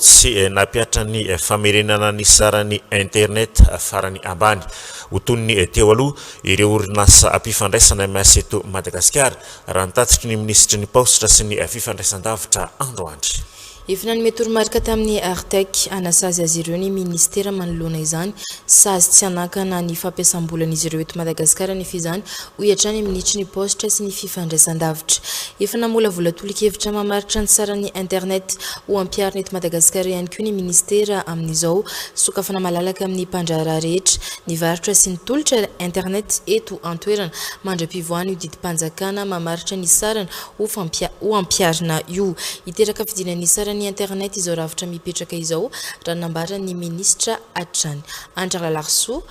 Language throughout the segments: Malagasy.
sy nampihatra ny famerenana ny saran'ny internet farany ambany ho toy ny teo aloha ireo orinasa mpifandraisana MS eto Madagasikara, raha ny tatitry ny minisitry ny Paositra sy ny fifandraisandavitra andro andry. Efa nanome toromarika tamin'ny Artec hanasazy azy ireo ny minisitera manoloana izany, sazy tsy hanakana ny fampiasam-bolan'izy ireo eto Madagasikara anefa izany, hoy hatrany amin'ny Nitron'ny Paositra sy ny Fifandraisandavitra. Efa namolavola tolo-kevitra mamaritra ny saran'ny Internet ho ampiharina eto Madagasikara ihany koa ny Minisitera amin'izao. Sokafana malalaka amin'ny mpandraharaha rehetra ny varotra sy ny tolotra Internet eto an-toerana mandra-pivoahan'io didim-panjakana mamaritra ny sarany ho ho ampiharina io. Hiteraka fidina ny saran'ny Internet izao rafitra mipetraka izao raha ny nambaran'ny Minisitra hatrany. Andry Ralarisoa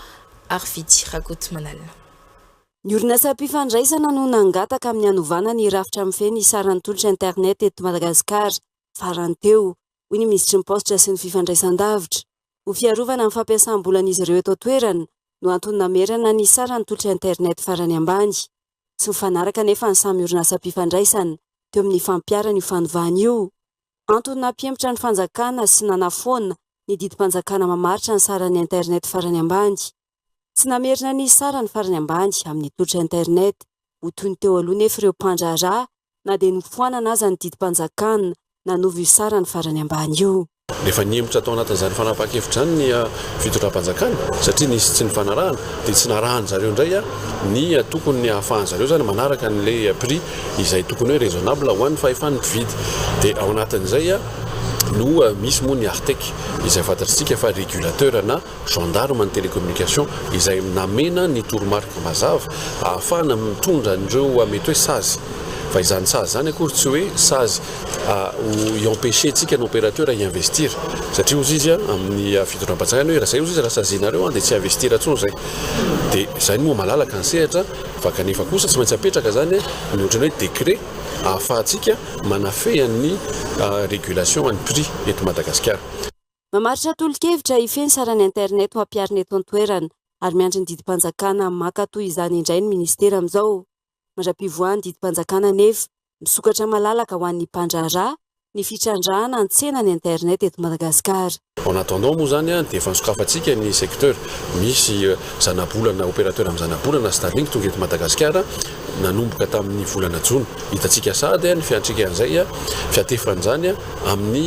ary Fidy Rakotomanalina. Ny orinasam-pifandraisana no nangataka amin'ny hanovana ny rafitra mifehy ny saran'ny tolotra internet eto Madagasikara, farany teo, hoy ny minisitry ny Paositra sy ny fifandraisan-davitra. Ho fiarovana ny fampiasam-bolan'izy ireo eto an-toerana no antony namerana ny saran'ny tolotra internet farany ambany. Tsy mifanaraka anefa ny samy orinasam-pifandraisana teo amin'ny fampiharana io fanovana io. Antony nampihemotra ny fanjakana sy nanafoana ny didim-panjakana mamaritra ny saran'ny internet farany ambany. Tsy namerina ny sarany farany ambany amin'ny tolotra internet. Ho toy ny teo aloha nefa ireo mpandraharaha na dia nofoanana aza ny didim-panjakana, nanova io sarany farany ambany io. Efa nihemotra tao anatin'izany fanapahan-kevitra izany ny fitondram-panjakana satria nisy tsy nifanarahana dia tsy narahan-dry zareo indray ny tokony hahafahan-dry zareo izany manaraka an'ilay prix izay tokony hoe raisonnable ho an'ny fahefan'ny mpividy. Dia ao anatin'izay no misy moa ny Artec izay fantatr'isika fa regulateur na Gendarme ny Télécommunication izay namena ny toromarika mazava ahafahana mitondra an'ireo mety hoe sazy. Fa izany sazy izany akory tsy hoe sazy ho i-empêcher antsika ny opérateur hi-investir. Satria hozy izy amin'ny fitondram-panjakana hoe raha izay hozy izy raha sazinareo dia tsy hi-investir intsony izay. Dia izay no maha malalaka ny sehatra fa kanefa kosa tsy maintsy apetraka izany ny ohatran'ny hoe décret ahafahantsika manafeha ny régulation an'ny prix eto Madagasikara. Mamaritra tolo-kevitra hifehy ny sarany internet ho hampiharina eto an-toerana ary miandry ny didim-panjakana maka toy izany indray ny minisitera amin'izao. Mandra-pivoahan'ny didim-panjakana anefa, misokatra malalaka ho an'ny mpandraharaha ny fitrandrahana ny tsenan'ny internet eto Madagasikara. En attendant moa izany dia efa nosokafantsika ny secteur. Misy zanabolana, opérateur amin'ny zanabolana, Starlink, tonga eto Madagasikara nanomboka tamin'ny volana jona. Hitantsika sahady ny fiantraikan'izay, fiatefan'izany. amin'ny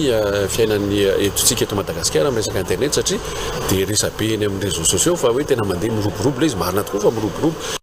fiainan'ny etontsika eto Madagasikara amin'ny resaka internet satria dia resabe eny amin'ny réseaux sociaux fa hoe tena mandeha miroborobo ilay izy, marina tokoa fa miroborobo.